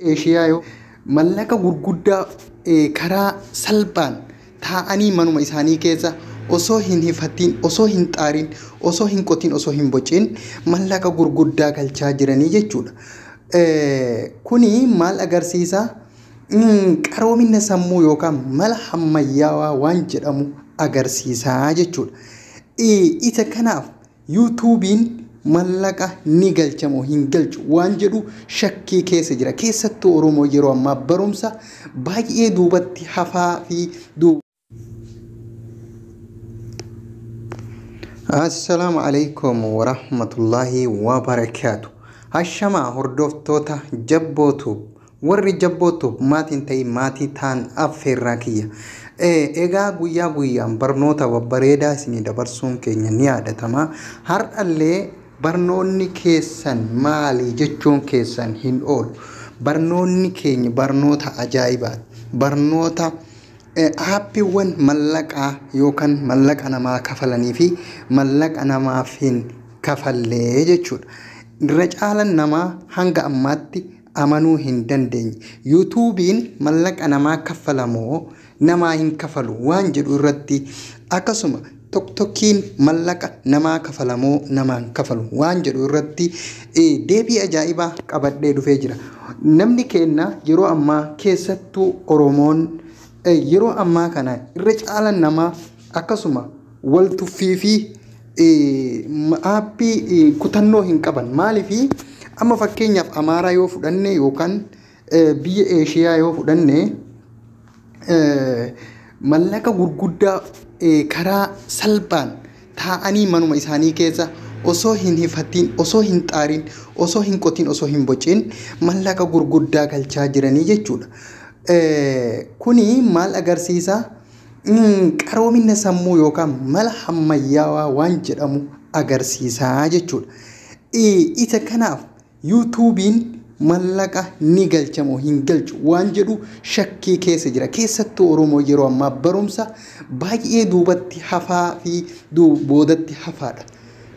Eeshiyaa yoo mallaqa gurguddaa eh, karaa salphaan taa'anii manuma isaanii keessa osoo hin hifattiin, osoo hin xaarin, osoo hin qotiin, osoo hin bocin mallaqa gurguddaa galchaa jiranii jechuudha. Eh, Kuni maal agarsiisa? Mm, Qaroomina sammuu yookaan mala hammayyaawaa waan jedhamu agarsiisa jechuudha. Eh, Isa kanaaf Yuutuubiin mallaqa ni galcha moo hin galchu waan jedhu shakkii keessa jira. Keessattuu Oromoo yeroo ammaa barumsa baay'ee duubatti hafaa fi duuba. Assalaamu alaikum warahmatullahi wabarakaatu. Hashamaa hordoftoota jabbootu Warri Jabboo Tube maatiin ta'i maatii taan affeerraa kiyya. Egaa guyyaa guyyaan barnoota babbareedaa isinii dabarsuun keenya ni yaadatama. Har'allee barnoonni keessan maali jechuun keessan hin oolu. Barnoonni keenya barnoota ajaa'ibaati. Barnoota aappiiwwan mallaqaa yookaan mallaqa namaa kafalanii fi mallaqa namaaf hin kafallee jechuudha. Irra caalan namaa hanga ammaatti amanuu hin dandeenye. Yuutuubiin mallaqa namaa kaffala moo namaa hin kafalu waan jedhu irratti akkasuma Toktokiin mallaqa namaa kafala moo namaa hin kafalu waan jedhu irratti deebii ajaa'ibaa qabadhee dhufee jira. Namni keenna yeroo ammaa keessattuu Oromoon yeroo ammaa kana irra caalan namaa akkasuma wal tuffii fi aappii kutannoo hin qaban maaliif amma fakkeenyaaf amaaraa yoo fudhanne yookaan biyya eeshiyaa yoo fudhanne mallaqa gurguddaa karaa salphaan taa'anii manuma isaanii keessa osoo hin hifatiin osoo hin xaarin osoo hin qotiin osoo hin bocin mallaqa gurguddaa galchaa jiranii jechuudha. Kuni maal agarsiisa? qaroomina sammuu yookaan mala hammayyaawaa waan jedhamu agarsiisaa jechuudha. Isa kanaaf yuutuubiin mallaqa ni galcha moo hin galchu waan jedhu shakkii keessa jira. Keessattuu Oromoo yeroo ammaa barumsa baay'ee duubatti hafaa fi boodatti hafaadha.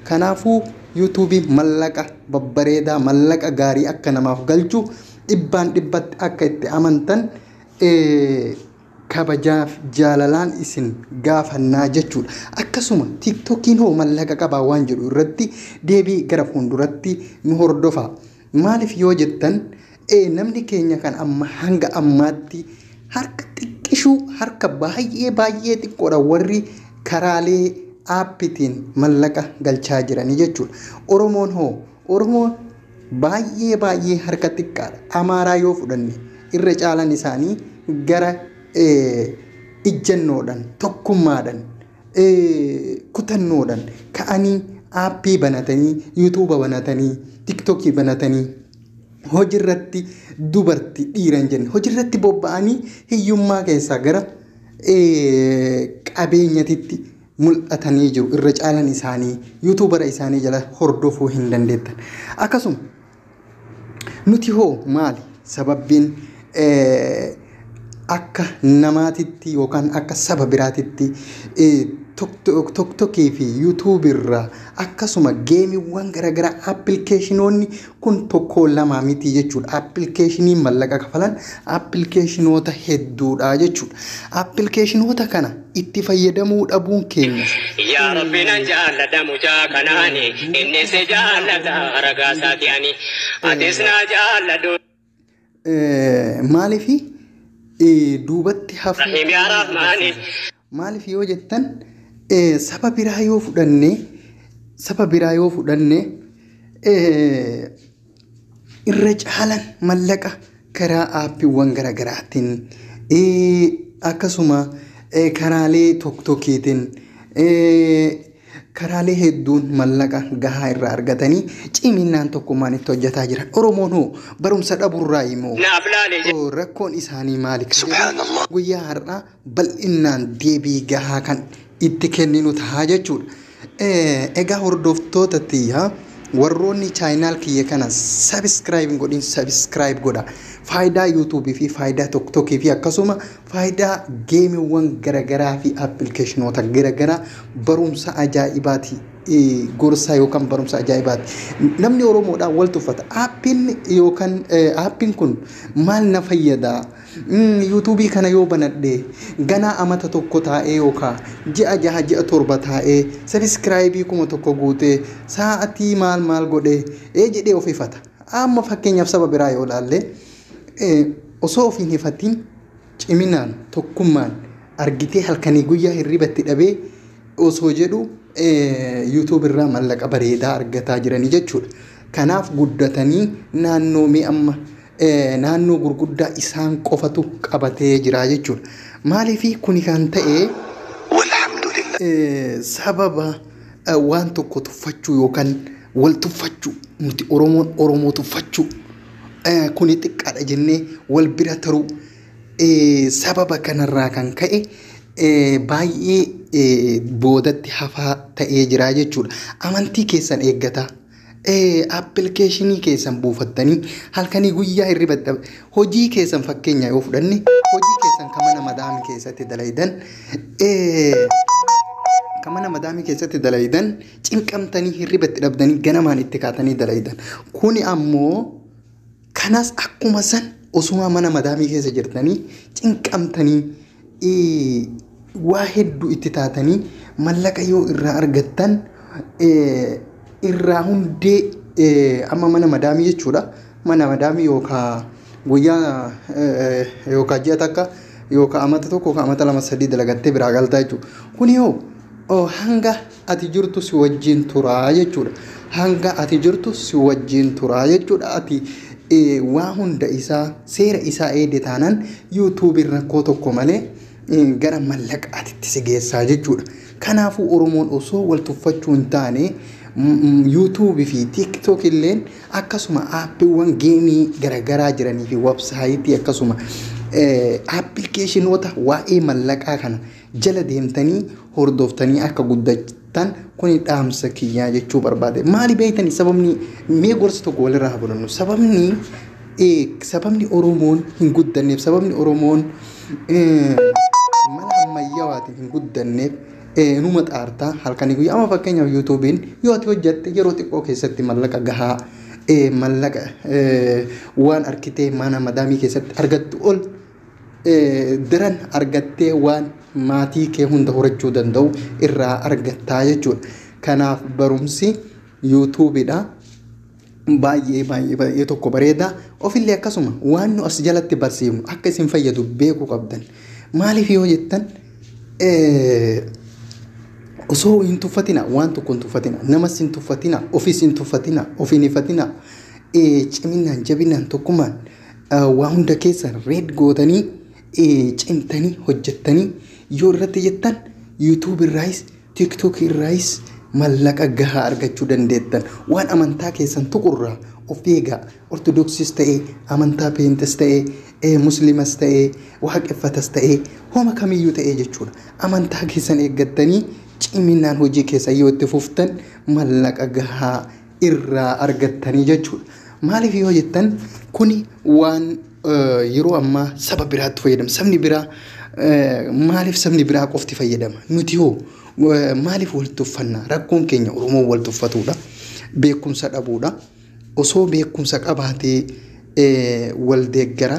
Kanaafuu yuutuubiin mallaqa babbareedaa mallaqa gaarii akka namaaf galchu dhibbaan dhibbatti akka itti amantan kabajaaf jaalalaan isin gaafannaa jechuudha. Akkasuma tiktokiin hoo mallaqa qabaa waan jedhu irratti deebii gara fuulduratti nu hordofaa. Maaliif yoo jettan ee namni keenya kan amma hanga ammaatti harka xiqqishuu harka baay'ee baay'ee xiqqoodha warri karaalee aappitiin mallaqa galchaa jiranii jechuudha. Oromoon hoo Oromoo Baay'ee baay'ee harka xiqqaadha. Amaaraa yoo fudhanne irra caalan isaanii gara ijjannoodhan, tokkummaadhan, kutannoodhan ka'anii aappii banatanii, yuutuuba banatanii, tiktokii banatanii hojirratti dubarti dhiira hin jenne hojirratti bobba'anii hiyyummaa keessaa gara qabeenyatitti mul'atanii jiru. Irra caalan isaanii yuutuubara isaanii jala hordofuu hin dandeettan. Akkasuma nuti hoo maali sababbiin eh, akka namaatitti yookaan akka saba biraatitti eh, tok- toktokii fi yuutuubirraa akkasuma geemiiwwan garaagaraa appilikeeshinoonni Kun tokkoo lamaa mitii jechuudha. Appilikeeshiniin mallaqa kafalan appilikeeshinoota hedduudha jechuudha. Appilikeeshinoota kana itti fayyadamuu dhabuun keenyas. Yaa Rabbi nan jaalladha mucaa kanaani innis jaallata ragaa isaati ani atis naa jaalladhu. Maaliif duubatti hafuu Nahimiyaa keenya Raafmaanii. agarsiisa? Maaliif yoo jettan eh, saba biraa yoo fudhanne saba biraa yoo fudhanne eh, irra caalan mallaqa karaa aappiiwwan garaagaraatiin eh, akkasuma eh, karaalee tokko tokkiitiin eh, Karaalee hedduun mallaqa gahaa irraa argatanii cimiinnaan tokkummaan itti hojjataa jiran. Oromoon hoo barumsa dhaburraayi moo Naaf laale jedhe. rakkoon isaanii maali kan jedhu Subhaanallah. guyyaa har'aa bal'innaan deebii gahaa kan itti kenninu tahaa jechuudha. Eh, Egaa hordoftoota tiyya warroonni chaayinaal kiyya kana subscribe hin godhin subscribe godha. Faayidaa YouTube fi faayidaa TikTok fi akkasuma Faayidaa geemiwwan garagaraa fi appilikeeshinoota garagaraa barumsa ajaa'ibaati gorsaa yookaan barumsa ajaa'ibaati. Namni Oromoodhaa wal tuffata. Aappiin yookaan aappiin kun maal na fayyada? Yuutuubii kana yoo banadhe ganaa amata tokko taa'ee yookaan ji'a jaha ji'a torba taa'ee sabiskiraayibii kuma tokko guutee sa'aatii maal maal godhee ee jedhee of ifata. Amma fakkeenyaaf saba biraa yoo ilaalle osoo of hin hifatiin ciminaan tokkummaan argitee halkanii guyyaa hirriba itti dhabee osoo jedhu yuutuub irraa mallaqa bareedaa argataa jiranii jechuudha. Kanaaf guddatanii naannoo mee amma naannoo gurguddaa isaan qofatu qabatee jira jechuudha. Maaliif kuni kan ta'e sababa waan tokko tuffachuu yookaan wal tuffachuu nuti Oromoon Oromoo tuffachuu eh, kuni xiqqaadha jennee wal bira taruu eh, sababa kanarraa kan ka'e eh, baay'ee eh, boodatti hafaa ta'ee jira jechuudha. Amantii keessan eeggataa. Eh, appilikeeshinii keessan buufattanii halkanii guyyaa hirriba itti dhab- hojii keessan fakkeenya yoo fudhanne hojii keessan kan mana madaamii keessatti dalaydan eh, kan mana madaamii keessatti dalaydan cinqamtanii hirriba itti dhabdanii ganamaan itti kaatanii dalaydan. Kuni ammoo kanas akkuma san osuma mana madaamii keessa jirtanii cinqamtanii ee, waa hedduu itti taatanii mallaqa yoo irraa argattan ee, irraa hundee ee, amma mana madaamii jechuudha. Mana madaamii yookaan guyyaa ee, yookaan ji'a takka yookaan amata tokko yookaan amata lama sadii dalagattee biraa galtaa jechuudha. Kuni hoo oo, hanga ati jirtu si wajjin tura jechuudha. Hanga ati jirtu si wajjin tura jechuudha. Ati waa hunda isaa seera isaa eegde taanaan yuutuubiin rakkoo tokko malee gara mallaqaatitti si geessaa jechuudha. Kanaafuu Oromoon osoo wal tuffachuu hin taane yuutuubii fi tiiktook illeen akkasuma aappiiwwan geemii garaagaraa jiranii fi websaayitii akkasuma aappilikeeshinoota waa'ee mallaqaa kana jala deemtanii hordoftanii akka guddatan kuni dhaamsa kiyyaa jechuu barbaade. Maali beeytani sababni mee gorsa tokko walirraa haa fudhannu. Sababni eh, sababni Oromoon hin guddanneef sababni Oromoon eh, mala ammayyawaatiin hin guddanneef eh, numa xaartaa halkanii guyyaa amma fakkeenyaaf yuutuubiin yoo ati hojjatte yeroo xiqqoo keessatti mallaqa gahaa eh, mallaqa eh, waan arkitee mana madaamii keessatti argattu ol daran argattee waan maatii kee hunda horachuu danda'u irraa argattaa jechuudha. Kanaaf barumsi yuutuubiidha. Baay'ee baay'ee baay'ee tokko bareeda. Ofillee akkasuma waan nu as jalatti barsiifnu akka isin fayyadu beekuu qabdan. Maaliif yoo jettan osoo hin tuffatina waan tokko hin tuffatina namas hin tuffatina ofis hin tuffatina of hin hifatina ciminaan jabinaan tokkummaan waa hunda keessan reed gootanii cimtanii hojjettanii yoo irratti jettan yuutuub irraayis tiktook irraayis mallaqa gahaa argachuu dandeettan waan amantaa keessan tuqurraa of eegaa ortodoksiis ta'ee amantaa peenxes ta'ee muslimas ta'ee waaqeffatas ta'ee homa kamiyyuu ta'ee jechuudha amantaa keessan eeggattanii ciminaan hojii keessan yoo itti fuftan mallaqa gahaa irraa argattanii jechuudha. Maaliif yoo jettan kuni waan yeroo ammaa saba biraatti fayyadama. Sabni biraa maaliif sabni biraa qofti fayyadama? Nuti hoo maaliif wal tuffanna? Rakkoon keenya Oromoon wal tuffatudha. Beekumsa dhabuudha. Osoo beekumsa qabaatee wal deeggara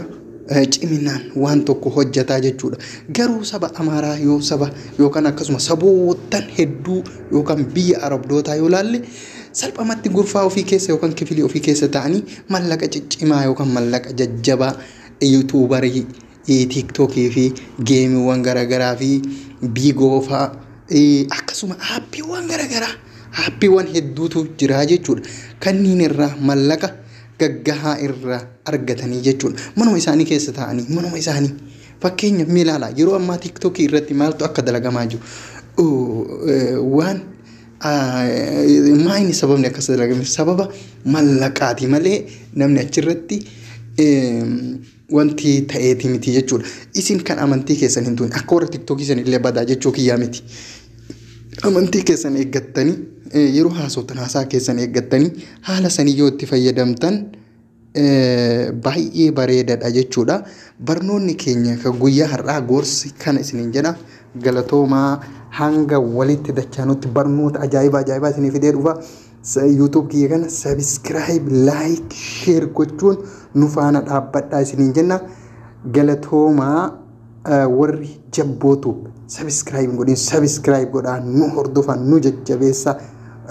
ciminaan waan tokko hojjataa jechuudha. Garuu saba Amaaraa yoo saba yookaan akkasuma saboottan hedduu yookaan biyya Arabdootaa yoo laalle salphamatti gurfaa ofii keessa yookaan kifilii ofii keessa ta'anii mallaqa ciccimaa yookaan mallaqa jajjabaa yuutuubarii tiiktookii fi geemiiwwan garaagaraa fi biigoofaa akkasuma aappiiwwan garaagaraa aappiiwwan hedduutu jiraa jechuudha. Kanniin irraa mallaqa gaggahaa irra argatanii jechuudha. Manuma isaanii keessa taa'anii, manuma isaanii. Fakkeenya mee ilaalaa yeroo ammaa tiiktookii irratti maaltu akka dalagamaa jiru. Waan maayini sababni akkas dalagame sababa mallaqaati malee namni achirratti wanti ta'eeti miti jechuudha. Isin kan amantii keessan hin tuqne akka warra tiktookii san illee badaa jechuu kiyyaa miti. Amantii keessan eeggattanii eh, yeroo haasoftan haasaa keessan eeggattanii haala sanii yoo itti fayyadamtan eh, baay'ee bareedadha jechuudha. Barnoonni keenya kan guyyaa har'aa gorsi kana isiniin jedha. Galatoomaa hanga walitti dachaanutti barnoota ajaa'ibaa ajaa'ibaa isinii fidee dhufa. YouTube kiyya kana subscribe, like, share gochuun nu faana dhaabbadhaa isiniin jenna. Galatoomaa eh, warri jabbootu subscribe hin godhin subscribe godhaa nu hordofaa nu jajjabeessa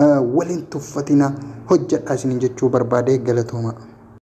eh, waliin tuffatina hojjedhaa isiniin jechuu barbaade galatoomaa.